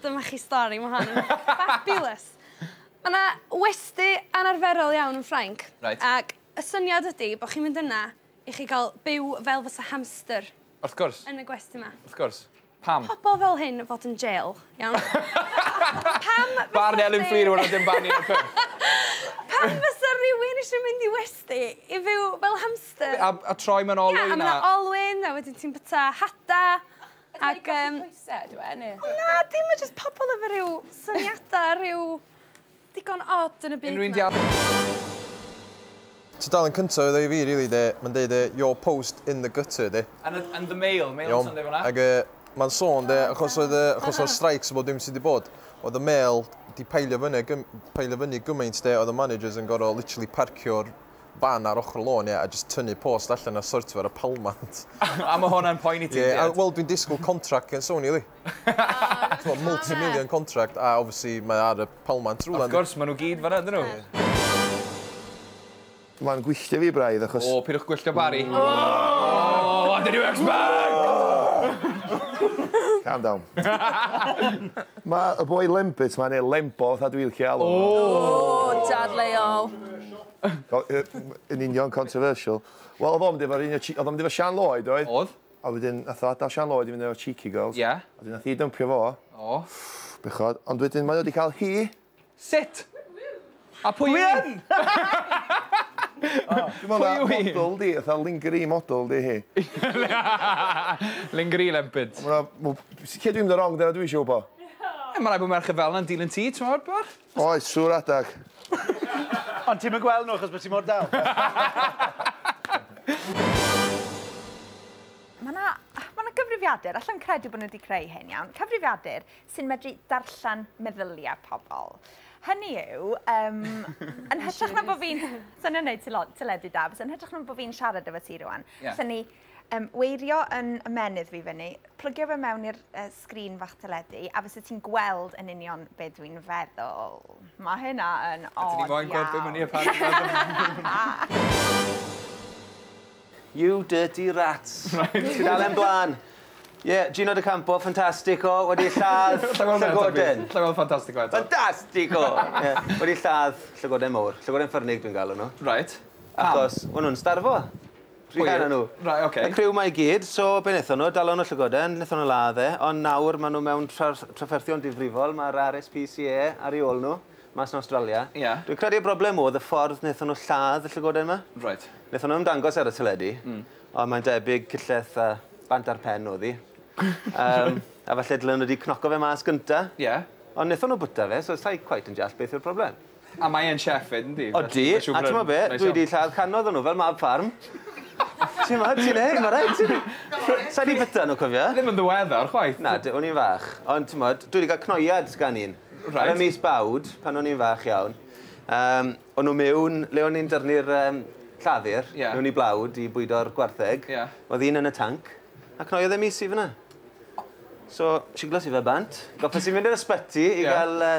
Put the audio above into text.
Dyma chi stori, ma' hon yn fabulous! Ma' 'na westy anarferol iawn yn Ffrainc. Reit. Ac y syniad ydi bo' chi'n mynd yna i chi ga'l byw fel fysa hamster. Wrth gwrs. Yn y gwesty 'ma. Wrth gwrs. Pam? Ma' pobol fel hyn yn fod yn jêl, iawn? Pam fysa... Barn Elin Fflur yw wnna dim barn Ieuan Gruff. Pam fysa rywun isio mynd i westy i fyw fel hamster? A, a troi mewn olwyn a... Ia, a ma' 'na olwyn, a wedyn ti'n byta hada, ac yym... Ydy e'n cael ei golli coesau ydyw e, neu...? O na, dim, ma' jyst pobl efo rhyw syniadau rhyw digon od yn y byd 'ma. Tudalen cynta oedd o i fi rili 'de, ma'n deud yy your post in the gutter 'de. Yn y yn the mail, mail yn Sunday fan'na. Ag yy ma'n sôn 'de achos oedd yy achos o'r streics a bob dim sy' 'di bod oedd y mail 'di peillio fyny ag yn peillio fyny gymaint 'de oedd y managers yn gor'o' literally parcio'r ban ar ochr y lôn ie a jyst tynnu post allan a sortio fo ar y palmant. A ma' hwnna'n poeni ti? Ie a wel dwi'n disgwl contract gen Sony yli. T'mo' multi million contract a obviously mae o ar y palmant rwla yndi? Wrth gwrs ma' n'w gyd fanna ydyn n'w? Ma'n gwylltio fi braidd achos... O peidiwch gwylltio Bari. O! O did you expect? Calm down. Ma' y boi Lembit ma' ne' Lembo fatha dwi licio alw fo. O! O dadleuol. Yn union, controversial. Wel, oedd o'n mynd efo un o... oedd o'n mynd efo Sian Lloyd, oedd? Oedd. A wedyn, nath o adael Sian Lloyd i fynd efo Cheeky Girls. Ie. A wedyn nath hi dympio fo. O. Bechod. Ond wedyn mae o wedi cael hi. Sut? A pwy yw hi? Dwi'n meddwl na model di, fatha lingerie model di hi. Lingerie lempid. Lle dwi'n mynd yn wrong, dyna dwi eisiau wybod? Ie, mae rhaid bod merched fel yna'n dilyn ti, ti'n gwybod, bach? Oes, siŵr adag. Ond ti'm yn gweld nhw achos bod ti mor dal. Mae yna ma na gyfrifiadur, allan credu bod nhw wedi creu hyn iawn, cyfrifiadur sy'n medru darllen meddyliau pobl. Hynny yw, um, yn hytrach na bod fi'n... Sa'n yn neud teledu da, yn hytrach na bod fi'n siarad efo ti rwan. Yeah. Sa'n ni Yym weirio yn ymenydd fi fyny. Plygio fe mewn i'r uh, sgrin fach teledu a fysa ti'n gweld yn union be dwi'n feddwl. Mae hynna yn od iawn. A ti di foi'n gweld be mynd i apparently. You dirty rats. Ti'n dal e'n blaen. Ie, yeah, Gino de Campo, ffantastico, wedi lladd llygoden. Llygoden ffantastico eto. Ffantastico! yeah. Wedi lladd llygoden mowr. Llygoden ffyrnig dwi'n galw nhw. Right. Achos, o'n nhw'n starfo. Rhianna nhw. Right ok. Y criw 'ma i gyd, so be' nethon nhw, dalon nhw llygoden, nethon nhw ladd e, ond nawr ma' nhw mewn tras- trafferthion difrifol, ma'r RSPCA ar ei ôl nhw, mas yn Awstralia. Ie. Dwi'n credu y broblem o'dd y ffordd nethon nhw lladd y llygoden 'ma. Reit. Nethon nhw ymddangos ar y teledu. Hmm. Ond mae'n debyg cyllell a bant ar pen o'dd 'i. Yym, a falle dylen nhw 'di cnoco fe mas gynta. Ie. Ond nethon nhw bwyta fe, so sai cweit yn deall beth yw'r problem. A mae e'n chef 'fyd yndi? Odi, a t'mo' be', dwi 'di lladd cannoedd o nw fel mab ffarm. Ti 'mod, ti'n neud, ma' raid ti. Sai 'di bita nw cofia. Ddim yn ddiweddar chwaith. Na, d- o'n i'n fach. Ond t'mod, dwi 'di ga'l cnoiad gan un. Reit. Ar y mis Bawd, pan o'n i'n fach iawn. Yym, o' nw miwn le o'n ni'n dyrnu'r yym llafur. Ie. Miwn i blawd i bwydo'r gwartheg. Ie. O'dd un yn y tanc, a cnoiodd e mis i fyn 'na. So, shiglos i fe bant. Gorffos i mynd i'r ysbyty i ga'l yy